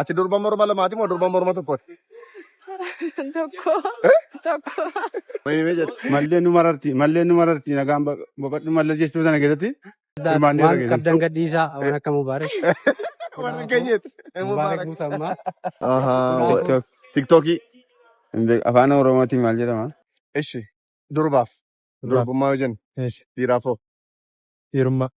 Ati durba morma lamaati moo durba morma tokkooti? Tokko. Tokko. Wayimee jedhe. Mallee nu mararti. Mallee nu mararti. Nagaan ba- boqodhu mallee jechuu sana keessatti. Hirmaannee irra waan geessan. qabdan gadhiisaa waan akka mubaarak Warra keenyatti. mubaarak musammaa Ahaa. Tiktookii. Afaan Oromootiin maal jedhama? Ishi. Durbaaf. Durbaaf. Durbummaa yoo jennu. Ishi. Dhiiraaf hoo. Irma.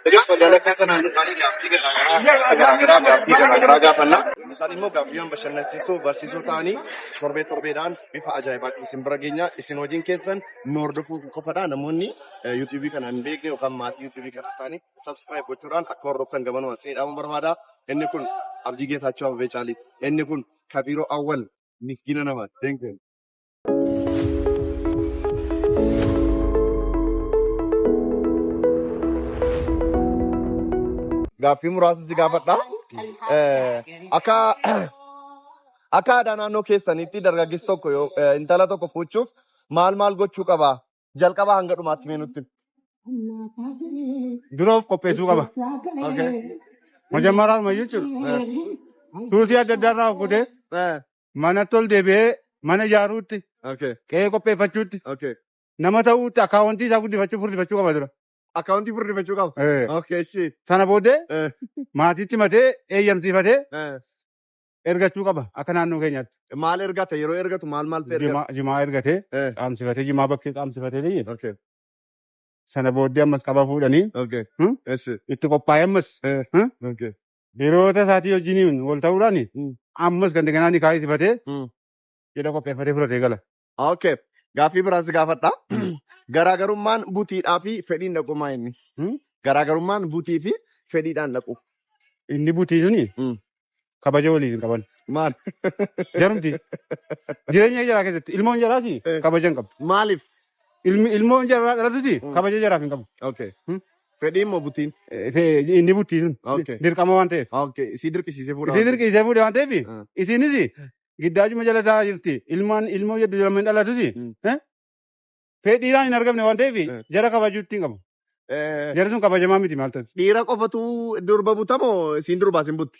Egaa magaalaa keessa naannoo isaanii gaaffii garaagaraa garaagaraa gaaffii garaagaraa gaafanna. Isaan immoo gaaffiiwwan bashannansiisoo barsiisoo ta'anii torbee torbeedhaan bifa ajaa'ibaatiin isin bira geenya. Isin hojiin keessan nu hordofuu qofadha. Namoonni yuutuubii kana hin beekne yookaan maatii yuutuubii kana ta'anii sabskiraayib gochuudhaan akka hordoftan gabanumaan seedhamu barbaada. Inni kun Abdii Geetaachoo Abbabee Caalii. Inni kun Kabiiroo Awwal miskiina namaati. Thank you. Gaaffii muraasa si gaafadha. Eh, Akka akka aadaa naannoo keessaniitti dargaggeessi tokko yoo eh, intala tokko fuuchuuf maal maal gochuu qaba? Jalqaba hanga dhumaatti mee nutti. dura of qopheessuu qaba. Okay. Majammaraadhuma jechuudha. Tuutii adda addaa irraa of godhee Eh, manatti ol deebi'ee mana ijaaruutti, Okay. qe'ee qopheeffachuutti, Okay. nama ta'uutti akkaawwantii isaa guddifachuu furdifachuu qaba dura. Akkaawuntii furdifachuu qaba. Eh, Okay. Ishii. Sana booddee Eh. maatiitti matee eeyyamsiifatee Eh. ergachuu qaba akka naannoo keenyaatti. Maal ergata? Yeroo ergatu maal maal ergata? Jimaa jimaa ergatee Eh. qaamsifatee jimaa bakkee qaamsifatee ta'e Okay. sana booddee ammas qaba fuudhanii Okay. Hmm? Ishii. itti qophaa'ee ammas Eh. Hmm? Okay. Hiriyoota isaatii wajjiniin wal ta'uudhaan Mm. ammas kan daganaa ni kaayisifatee Mm. jedha qopheeffatee fudhatee gala. Okay. Gaaffii biraan si gaafadha. Garaagarummaan butiidhaa fi fedhiin dhaquu maa inni? Hmm? Garaagarummaan butii fi fedhiidhaan dhaquu. Inni butii suni Mm. kabaja waliif hin qaban. Maal? Jarumti jireenya jaraa keessatti ilmoon jaraati Eh. kabaja hin qabu. Maaliif? Ilmi ilmoon jaraa dhalatuti Mm. kabaja jaraaf hin qabu. Okay. Fedhii immoo butiin. Fe- inni buttii sun Okay. dirqama waan ta'eef Okay. Isii dirqisiisee fuudha. isii dirqisiisee fuudhe waan ta'eef Ah. isiinis giddaachuma jala taa'aa jirti ilmaan ilmoo jedhu jedhamee dhalatusi Mm. eh? fedhiidhaan hin argamne waan ta'eef Eh. jara kabajuutti hin qabu Eh, jara sun kabajamaa miti maal ta'e Dhiira qofatu durba butamoo isiin durbaa isin butti?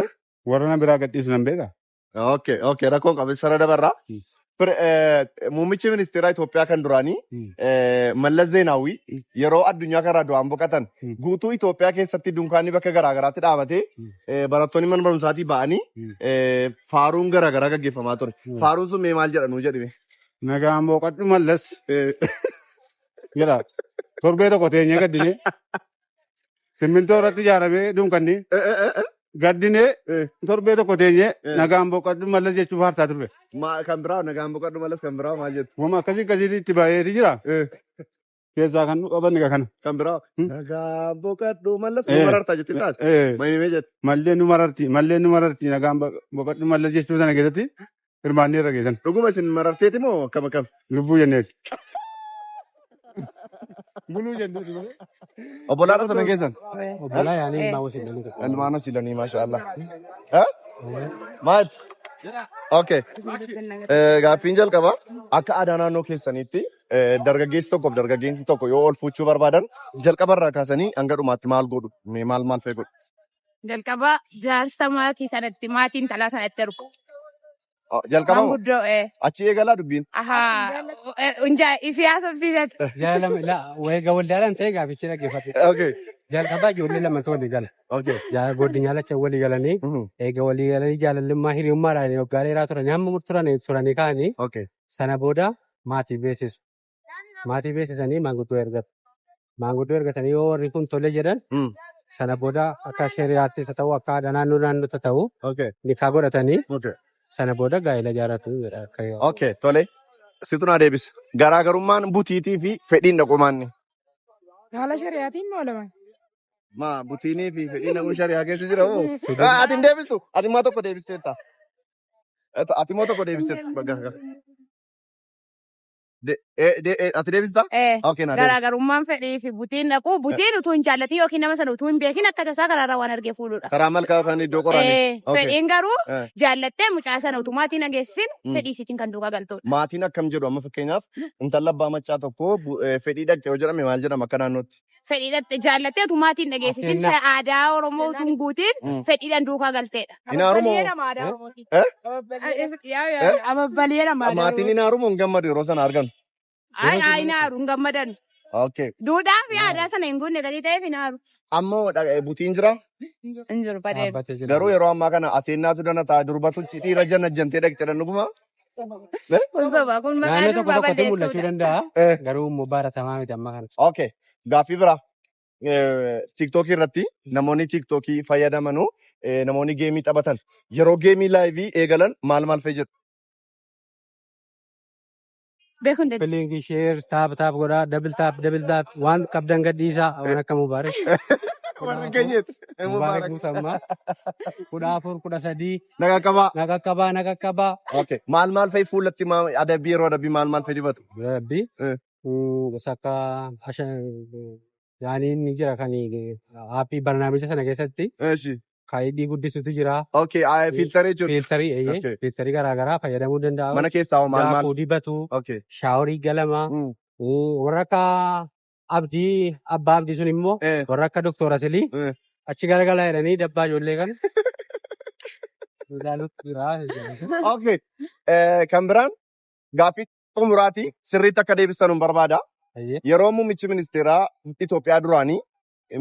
Eh? Warra na biraa gadhiisu nan beeka. Okay, okay, rakkoon qabu sara dabarraa. Mm. Pre- eh, Muummichi ministeeraa Itoophiyaa kan duraanii Mm. eh, Mallas Zeenaawwii Mm. yeroo addunyaa kanarraa du'aan boqatan Mm. guutuu Itoophiyaa keessatti dunkaanni bakka garaagaraatti dhaabatee Mm. eh, barattoonni mana barumsaatii ba'anii Mm. eh, faaruun garaagaraa gaggeeffamaa ture. Mm. Faaruun sun mee maal jedhanuu jedhime? Nagaan boqadhu mallas Eh, jedha. Torbee tokko teenyee gaddine Simmintoo irratti ijaaramee dunkanni Eh, eh, eh, eh, gaddinee eh. torbee tokko teenyee Eh. nagaan boqadhu mallas jechuuf haarsaa turre. Ma- kan biraa nagaan boqadhu malas kan biraa maal jettu Wama akkasii akkasii itti baay'eeti jira. Eh, Keessaa kan nu qaban egaa kana. kan biraa Hmm. nagaan boqadhu malas Eh. nu marartaa jetti taas Eh, maimee jetti mallee nu mararti mallee nu mararti nagaan bo- boqadhu mallas jechuu sana keessatti hirmaannee irra geessan. Dhuguma isin mararteeti moo akkam akkam? Lubbuu jenneeti. Buluu jenneeti malee. Obbolaadha sana keessan? Obbolaa yaanii ilmaa wasiin dhaluu tokko. Ilmaan hosi lanii maasha Allah. Eh? Maat? Okay. Eh, Gaaffiin jalqaba akka aadaa naannoo keessaniitti eh, dargaggeessi tokkoof dargaggeessi tokko yoo ol fuuchuu barbaadan jalqaba irraa kaasanii hanga dhumaatti maal godhu? Mee Maal maal fa'ii godhu? Jalqaba jaarsa maatii sanatti maatii intalaa sanatti ergu. Oh, Jalqaba moo? Manguddoo ee. Achi eegalaa dubbiin. Ahaa. Unjaa isii haasofsiisatti. Jaalama la wayga waldaadhaan ta'e gaafichi dhaggeeffate. Okay. Jalqabaa ijoollee lamatu walii gala. Okay. Jaa- Godinyaa lacha walii galanii Mhm. eega walii galanii jaalallimmaa hiriyummaadhaan waggaa dheeraa turan hamma mur- turan turanii kaanii Okay. sana booda maatii beeksisu. maatii beeksisanii maanguddoo ergatu. Maanguddoo ergatanii yoo warri kun tole jedhan Mm. sana booda akka shari'aattis haa ta'u akka aadaa naannoo naannootti haa ta'u Okay. nikaa godhatanii Okay. sana booda gaa'ela ijaarratu jedha akka yoo. Okay. Tole. Situ naa deebisa. Garaagarummaan butiitii fi fedhiin dhaqumaanni. Haala shari'aatiin moo lama? Maa butiinii fi fedhiin dhaquu shari'aa keessa jira hoo? Fedhiin- Ah, Ati hin deebistu. Ati immoo tokko deebisteetta. Ati immoo tokko deebisteetta. Bakka- bakka. de- eh, de- eh, ati deebistaa? Eh, Okay, naa deebisi. garaagarummaan fedhii fi butiin dhaquu butiin utuu hin jaallatin yookiin nama sana utuu hin beekin akka tasaa karaarraa waan argee fuudhudha. Karaa malkaa yookaan iddoo Eh, qoraanii. Okay. fedhiin garuu Eh. jaallattee mucaa sana utumaatii nageessisin Mm. fedhii isiitiin kan duukaa galtudha. Maatiin akkam jedhu amma fakkeenyaaf intala abbaa maccaa tokko bu- eh, fedhii dhaqxe yoo jedhame maal jedhama akka naannootti? fedhii dhatte jaallattee utuu maatii hin dhageessisin Seenaa. sa- aadaa Oromoo utuu hin guutiin Mm. fedhiidhaan duukaa galteedha. Hin haarumoo? Ababbaleera maadaa Maatiin hin haarumoo hin gammadu yeroo sana argan. Ay, ay, hin haaru hin gammadan. Okay. Duudhaa fi aadaa sana hin guunne galii ta'eef hin haaru. Amma dha- eh, butiin jira. Hin jiru badee. Dhaabbatee jira. Garuu yeroo ammaa kana aseennaatu dana ta'a durbatuchi dhiira janna jantee dhaqxedha dhuguma. Naannoo tokko tokkotti mul'achuu danda'a. Eh, Garuu immoo baratamaa miti amma kana. okay. Gaaffii biraa. Eh, Tiiktookii irratti namoonni tiiktookii fayyadamanu eh, namoonni geemii taphatan yeroo geemii laayivii eegalan maal maal fayyadu? beekuu hin dandeenye. Link share taap taap godhaa double taap double taap waan qabdan gadhiisaa waan akka mubaarak Warra keenyas. mubaarak buusammaa kudha afur kudha sadii Nagaa qabaa. na qaqqabaa na qaqqabaa Okay. Maal maal fa'i fuulatti maa- adabbii yeroo adabbii maal maal fa'i dibatu? rabbi Eh. gosa akka hasha yaaniin ni jira kan aappii barnaamija sana keessatti Eeshi. kan hidhii guddisutu jira. Okay, ah, Eh, filtera jechuudha. Fiiltarii eeyyee Okay. fiiltarii garaagaraa fayyadamuu danda'a. Mana keessaa hoo maal maal? Daakuu dibatu, Okay. shaaworii galama, Mm. eh, warra akka abdii abbaa abdii sun immoo Eh. warra akka doktora silii Eh. achi garagalaa jedhanii dabbaa ijoollee kan ilaaluutu jira. Okay. Eh, kan biraan gaaffii xumuraati sirriitti akka deebistan hin barbaada. Eeyyee. Yeroo muummichi ministeeraa Itoophiyaa duraanii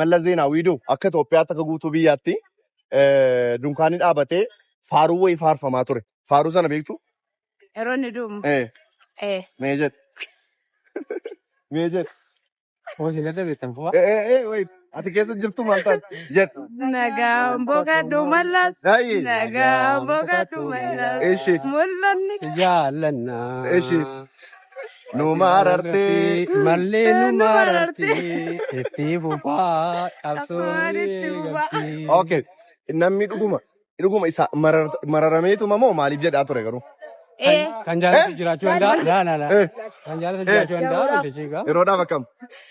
Mallas Zeenaawwii du akka Itoophiyaatti akka guutuu biyyaatti eh, dunkaanni dhaabatee faaruu wayii faarfamaa ture. Faaruu sana beektu? Yeroo inni du'u Eh, eh, mee jedhe. Mee jedhe. Eh, eh, eh, wait. Ati keessa jirtu maal taate? Jedhe. nagaan boqadhu mallas Daa'ii. nagaan boqadhu mallas Eshi. mul'anni Jaallanna. Eshi. nu marartee mallee nu marartee itti fufaa qabsoon itti fufaa. Okay. Namni dhuguma dhuguma isa marar- mararameetuma moo maaliif jedhaa ture garuu? Ee. Kan jaalatu jiraachuu danda'a. Laa laa laa. Eh. Kan jaalatu jiraachuu danda'a. Yeroodhaaf akkam?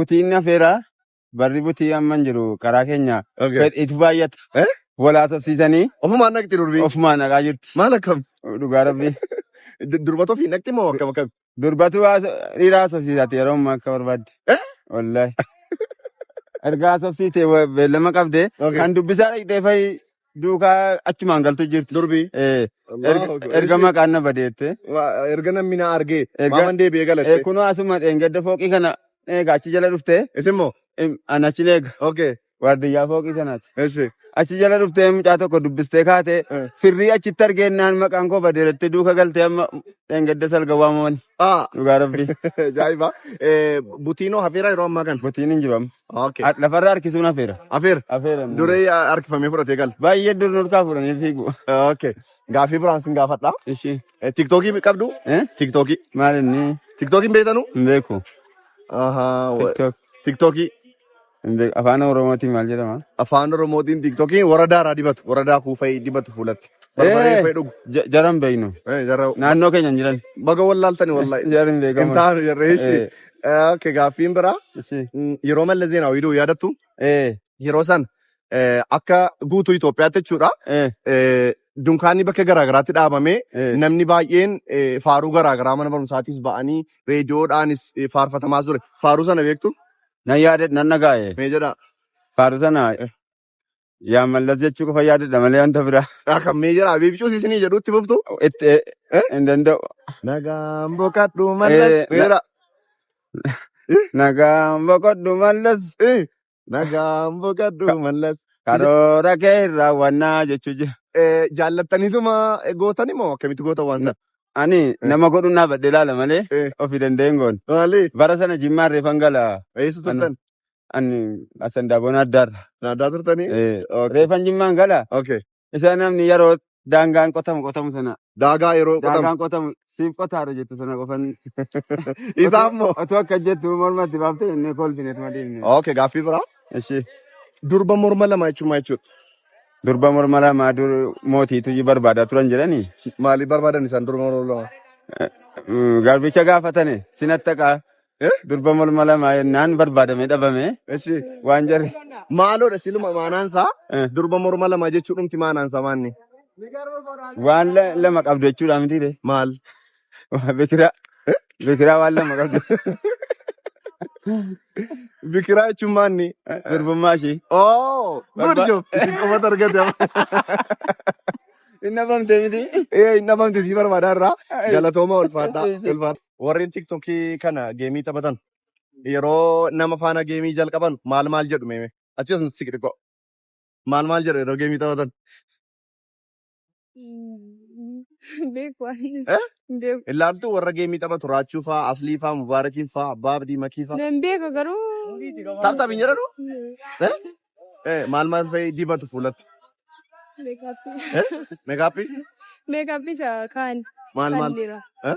butii inni hafeera barri butii amma hin jiru karaa keenya Okay. fed- itti baay'ata Eh? walaa tofsiisanii Ofumaan naqxi durbii. ofumaan naqaa jirti Maal akkam? dhugaa rabbii Du- Durbata ofii naqxi moo akkam akkam? durbatu haasa- dhiira haasofsiisati yeroo ammaa akka barbaadde Eh? wallahi erga haasofsiite wa- beellama qabde Okay. kan dubbisaa dhaqxee fa'i duukaa achumaan galtu jirti. Durbii. Eh, Allahu erga- Akbar. erga Ishii- maqaan na badeette. Wa- Erga namni na argee Erga- maaman deebi'ee Eh, galatte. kunoo asuma dheengadda fooqii kana eega achi jala dhuftee Isin moo? em, an achi eega Okay. waardiyyaa fooqii sanaati. Ishi. Achi jala dhuftee mucaa tokko dubbistee kaatee Eh. firrii achitti argeennaan maqaan koo badeerattee duuka galtee amma dheengadda salga waamamani Ah. dhugaa rabbii. Ajaa'iba. Eh, Butiinoo hafeera yeroo ammaa kana. Butiin hin jiru amma. Okay. Har- Lafarra harkisuun hafeera. Afeer. Hafeera. inni. Duree harkifamee fudhatee gala. Baay'ee dur nurkaa fuudhanii fiigu. Okay. Gaaffii biraan sin gaafadha. Ishii. Eh, Tiktookii qabdu? Eh? Tiktookii. Maal inni Tiktookiin beektanuu? hin beeku. Ahaa. wa- TikTok Tiktookii. hin beeku. Afaan Oromootiin maal jedhama? Afaan Oromootiin tiktookiin waradaa irraa dibatu. Waradaa kuufee dibatu fuulatti. barbaree Eh, fa'ee dhugu. ja- jaran beeknu. Eh, Jarra Naannoo keenya hin jiran. baga wallaaltani wallahi. Jaran Hin beekaman. taanu jarra ishi. Eh, Eh, Okay, gaaffiin biraa ishi. mm, yeroo Mallas Zeenaawii du'u yaadattu Eh, yeroo san eh, akka guutuu Itoophiyaatti jechuudha. eh, eh, Dunkaanni bakka garaagaraatti dhaabamee eh. namni baay'een eh, faaruu garaagaraa mana barumsaatiis ba'anii reediyoodhaanis eh, faarfatamaa ture. Faaruu sana beektu Nan yaade nan dhagaaye. mee jedhaa. Faaruu sana Eh. Yaa mallas jechuu qofa yaadadha malee wanta biraa. Akka meejara abiibcuus isinii jedhuutti fuftu. Itti eh, Eh? hin danda'u. Nagaan boqadhu mallas. Eh, na- Meera. Nagaan boqodhu mallas. Eh, Nagaan boqadhu mallas. Si ja- Karoora kee hin raawwannaa jechuu jira. eh, Jaallattaniituma eh, gootani moo akkamitti goota waan sana? Ani nama godhuun dhaabadhe ilaala malee Eh. ofii danda'een goon. Maali? Bara sana jimmaan reefan gala. Eessa turtan? Ani asan daabon addaarra. Naadaa turtanii? Eh, Okay. Reefan jimmaan gala. Okay. Isa namni yeroo daangaan qotamu qotamu sana Daagaa yeroo qotamu. daangaan qotamu siif qotaara jettu sana qofan. Isaa immoo. Otuu akka jettu mormatti baaftee inni kolfine tuma deemne. Okay, gaaffii biraa. Ishee Durba morma lama jechuun maal jechuudha? durba morma lama dur mootiitu ji barbaadaa turan jedhanii Maaliif barbaadan isaan durba morma lama? eh, mm, garbicha gaafatane sinatti akka Eh? Durba morma lama jennaan barbaadamee dhabame Eshi. waan jarri. Maaloodha siluma maanaansaa Eh. durba morma lama jechuu dhumti maanaansaa maanni. Waan la- lama qabdu jechuudha miti ree. Maal? Waa bikiraa. Bikiraa waan lama qabdu. Bikiraa jechuun maanni. Durbummaa ishee. Oh, good Barba- job. Isin qofatu argate amma. Hin dhabamte miti. Eh, hin dhabamte sii barbaada irraa. Galatooma ulfaadhaa. Ulfaadhaa. warreen tiktokii kana geemii taphatan yeroo nama faana geemii jalqaban maal maal jedhu meeme achi as nutti siqi xiqqoo maal maal jedhu yeroo geemii taphatan Beeku anis. Eh? Beeku. ilaaltu warra geemii taphatu raachuu faa aslii faa mubaarakiin faa abbaa abdii makii faa Nan beeka garuu. taphtaaf hin jedhanu Eh? Eh, maal maal fa'i dibatu fuulatti Meekaappii. Eh? meekaappii Meekaappii isa kaan. maal maal Kan dhiiraa. Eh?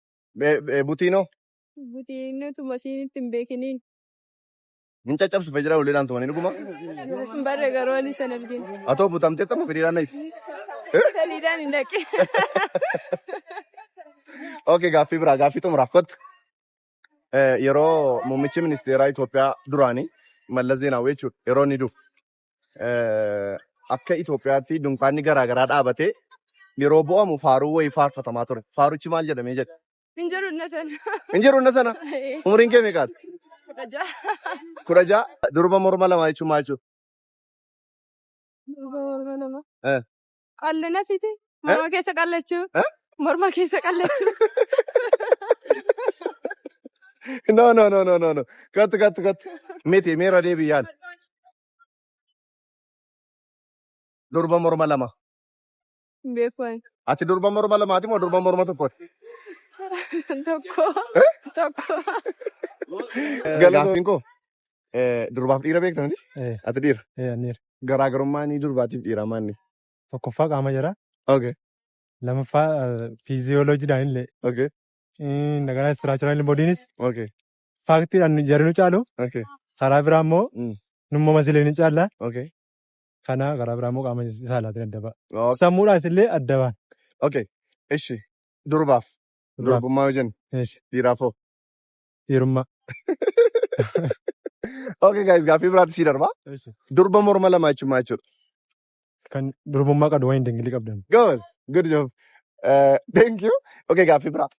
Be- be- Butiinoo Butiinatu masiinitti hin beekiniin. hin caccabsu fee jira uleedhaan tumanii dhuguma. Hin barre garuu ani san argin. Atoo butamtee tapha firiiraan nayti. Saliidaan hin dhaqe. Ok gaaffii biraa gaaffii xumuraaf kottu. Eh, Yeroo muummichi ministeeraa Itoophiyaa duraanii Mallas Zeenaawwii jechuudha yeroo inni dhufu eh, akka Itoophiyaatti dunkaanni garaa garaa dhaabatee yeroo bu'amu faaruu wayii faarfatamaa ture. Faaruchi maal jedhamee jedha? Hin jiru na sana. Hin jiru na sana. Umriin kee meeqaati? Kudha ja'a. Kudha ja'a. Durba morma lamaa jechuun maal jechuudha? Durba morma lama. Eh. Qallina siti. Morma keessa qallachuu. Eh? Morma keessa qallachuu. No, no, no, no, no, no. Cut, cut, cut. Miti, miira deebii yaal. Durba morma lama. Hin beeku ani. Ati durba morma lamaati moo durba morma tokkooti? Tokko. Tokko. Gaaffiin koo eh, durbaaf dhiira beekta miti? Eh. Ati dhiira. Eh, anniir. Garaagarummaan durbaatiif dhiiraa maanni? Tokkoffaa qaama jara. Okay. Lamaffaa fiiziyooloojiidhaan illee. Okay. Nagaa istiraachiraan illee bodiinis. Okay. Faaktiidhaan jarri nu caalu. Okay. Karaa biraa immoo Mm. numma masilee ni caalla. Okay. Kana karaa biraa immoo qaama saalaatiin adda ba'a. Okay. Sammuudhaas illee adda ba'a. Okay. Ishi. Durbaaf. Durbaaf. Durbummaa yoo jennu Eesh. dhiiraaf hoo? Firma. Okay guys gaaffii biraatti sii darba. Durba morma lama jechuun maal jechuudha? Kan durbummaa qabdu waan hin dingilii qabdan. Goos. Good job. Eh, Thank you. Okay gaaffii biraa.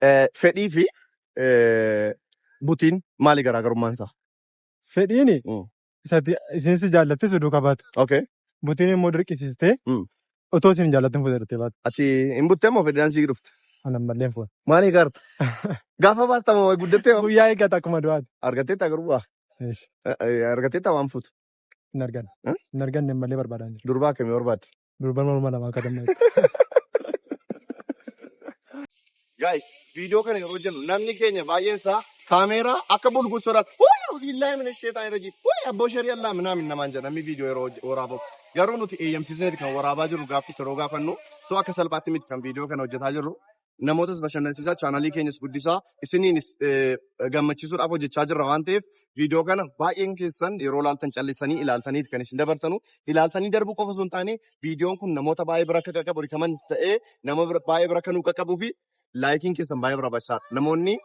Eh, Fedhii fi eh, butiin maali garaagarummaan isaa? Fedhiini Mm. isati isiin si jaallatte si duuka baatu. Okay. Butiin immoo dirqisiistee Mm. otoo isin hin jaallatin fuudhattee baatu. Ati hin buttee moo fedhidhaan sii dhufte? Ana mallee hin fuudhu. Maal eegaarta? Gaafa baasta moo guddattee moo? Guyyaa eeggata akkuma du'aati. Argatteetta garuu waa. Eesh, Argatteetta waan fuutu. Hin arganne. Eh? Hin arganne mallee barbaadaan jira. Durbaa akkamii barbaadde? Durban morma lamaa akka damma. Guys, viidiyoo kana yeroo jennu namni keenya baay'een isaa kaameeraa akka bulguun sodaatu. Wayii auzubillahi mina sheetaan irra jiru. Wayii abboo sharii allaa minaamin namaan jedha namni viidiyoo yeroo hoj- waraabaa. Garuu nuti eeyyamsiisneeti kan waraabaa jirru gaaffii yeroo gaafannu. So akka salphaatti miti kan viidiyoo kana hojjetaa jirru. namootas bashannansiisaa, chaanalii keenyas guddisaa, isiniinis gammachiisuudhaaf hojjechaa jirra waan ta'eef viidiyoo kana baay'een keessan yeroo ilaaltan callistanii ilaaltanii kan isin dabartanu. Ilaaltanii darbuu qofa osoo hin taane viidiyoon kun namoota baay'ee bira akka qaqqabu rikaman ta'ee nama baay'ee bira akka nu qaqqabuu fi laayikiin keessan baay'ee barbaachisaadha. Namoonni